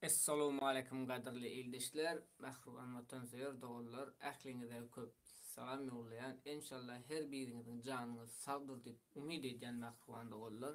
Essalawmaleýkum gadyrly ildeşler, mähriban watansöýer doganlar ähliňize köp salam ýollaýan enşalla her biriňiziň janyňyz sagdyr diýip umyt edýän mähriban doganlar.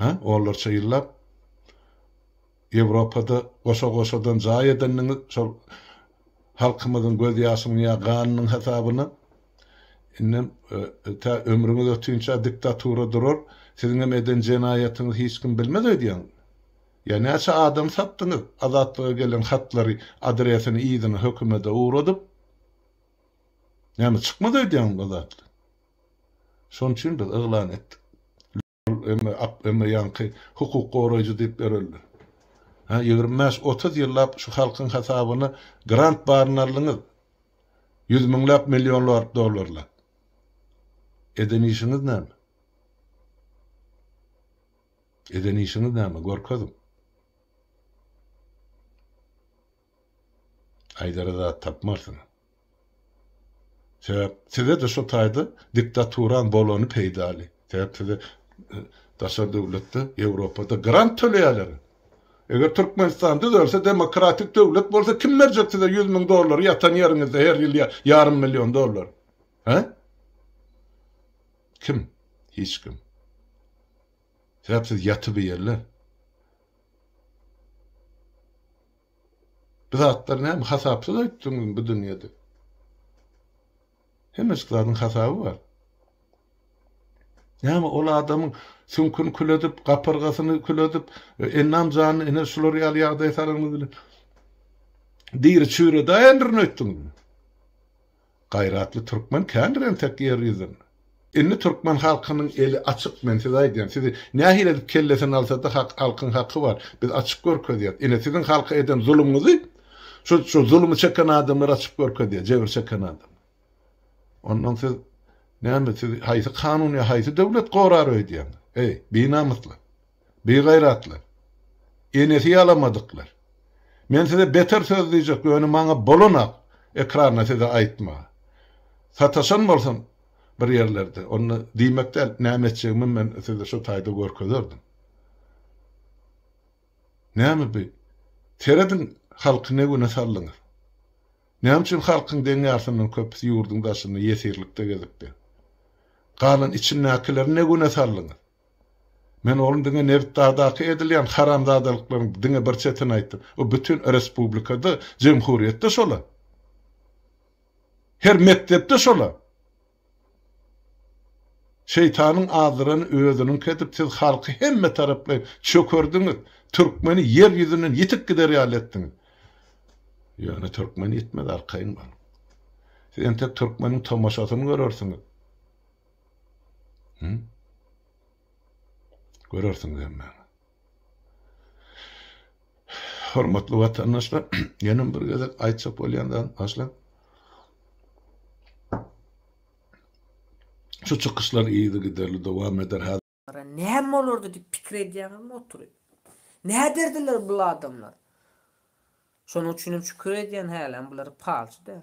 Hä, onlarça ýyllap Ýewropada goşa-goşadan jaý edendiňiz şol halkymyzyň göz ýaşynyň ýa ganynyň hasabyna. Indem tä ömrüňiz ötinçä diktatura durar, siziňem eden jenaýatyňyzy hiç kim bilmez öýdýäňizmi? Ýa näçe adam satdyňyz Azatlyga gelen hatlary adresini yzyna hökümede ugradyp? Näme çykmaz öýdýäňizmi Azatlyk? Şonuçin biz yglan etdik. Ol emma ak, emma ýaňky hukuk goraýjy diýip bereldi. Hä, ýigrimi bäş, otuz ýyllap şu halkyň hasabyna grant baryny aldyňyz. Ýüz müňläp, millionlap dollarlap. Eden işiňiz näme? Eden işiňiz näme, görkeziň. Aýdara zat tapmarsyň. Sebäp size-de şu taýda diktaturan bolany peýdaly. Sebäp size e, daşary döwletde, Ýewropada grant töleýärler. Eger Türkmenistan düzelse, demokratik döwlet bolsa kim berjek size 100 müň dollary ýatan ýeriňizde her ýyl ýarym million dollar? He? Kim? Hiç kim. Sebäpsiz ýatybeýerler. Bu zatlar näme hasapsyz aýtdyňyzmy bu dünýede? Hemmejik zadyň hasaby bar. Näme ol adamyň süňküni kül edip, gapyrgasyny kül edip, e, ennam janyny ene şular ýaly ýagdaýa salanyňyz bilen diri çüýredaýendirin öýtdüňizmi? Gaýratly türkmen kändir entek ýer ýüzün. Indi türkmen halkynyň eli açyk men size aýdýan sizi nähili edip kellesini alsada hak halkyň haky bar biz açyk görkezýäs ine siziň halka eden zulumyňyzy şu şu zulumy çeken adamlar açyk görkezýä jebir çeken adam ondan siz näme siz haýsy kanun ýa haýsy döwlet gorar öýdýäňiz eý binamyslar. Bigaýratlar! Enesi ýalamadyklar! Men size beter söz diýjek, ýöne maňa bolanak ekranda size aýtmaga. Sataşan bolsam bir ýerlerde, onda diýmek däl, näme etjegimi men size şu taýda görkezerdim. Näme bi? Serediň, halky ne güne saldyňyz? Näme üçin halkyň deň ýarysyndan köpüsi ýurduň daşynda ýesirlikde gezipdir? Galan içindäkileri ne güne saldyňyz? Men onuň diňe nebitdagdaky edilýän haramzadalyklaryň diňe bir çetini aýtdym. Bu bütin respublikada, jemhuryýetde şol-a. Her mekdepde şol-a. Şeýtanyň azdyrany özüniňki edip siz halky hemme taraplaýyn çökerdiňiz, türkmeni ýer ýüzünden ýitip gider ýaly etdiňiz. Ýöne türkmen ýitmez arkaýyn boluň. Siz entek türkmeniň tomaşasyny görersiňiz. Hı? Görersiňiz hemmäňiz. Hormatly watandaşlar, ýene bir gezek aýtjak bolýan zat başla. Şu çykyşlar yzy giderli dowam eder. Näme bolardy diýip pikir edýäňizmi oturyp? Näderdiler bul adamlar? Şonuň üçinem şükür edýän hälem bulary palçy däl.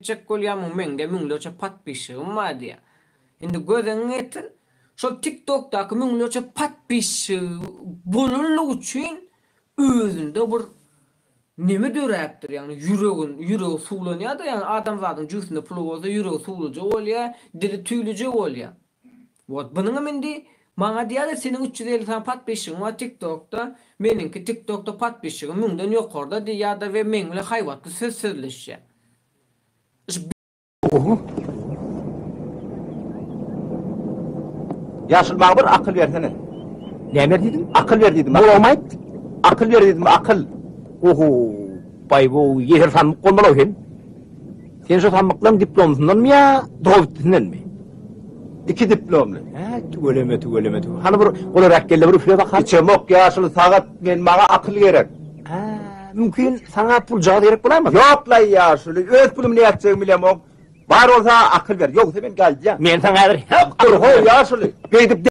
Etjek bolýamyň meňde müňlerçe patpişşigim bar diýä. Indi gözüňi getir şol tik tokdaky müňlerçe patpişşigi bolanlygy üçin özünde bir neme döräpdir ýagny ýüregin ýüregi suwlanýada ýagny adamzadyň jübüsinde puly bolsa ýüregi suwluja bolýa dili tüýlüje bolýa Wot bunuňam indi maňa diýýäler seniň üç ýüz elli sany podpisçigiň bar tik tokda meniňki tik tokda podpisçigim müňden ýokarda diýýärde we meň bilen haýbatly söz sözleşýär şu Oho. Ýaşyl maňa bir akyl bersene. Näme diýdim? Akyl ber diýdim. Bolam aýt. Akyl ber diýdim, akyl. Oho. Baý bu ýeser sanmyk bolmaly-ow sen. Sen şu samyklaň diplomysyndanmy ýa dogubitdisindenmi? Iki diplomly. Hä, tüweleme, tüweleme, tüweleme. Hany bir olar äkgelle bir üfle bakalım. Içemok ýaşyl sagat, men maňa akyl gerek. Hä, mümkin saňa puljagaz gerek bolarmy? Ýok laý ýaşuly, öz pulum nätjegimi bilemok. Bar bolsa akyl ber, ýogsa men galdýan. Men saňa häzir. Hep, dur, ho, ýaşuly. Beýdip.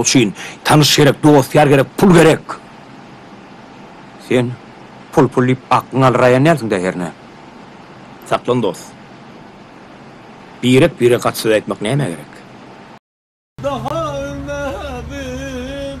üçin tanyş gerek, dost-ýar gerek, pul gerek. Sen pul-pul diýip aklyňy alyraýan dälsiň-dä hernä? Saklan dost. Birek-biregi gaty söz aýtmak nämä gerek? Daha ölmedim.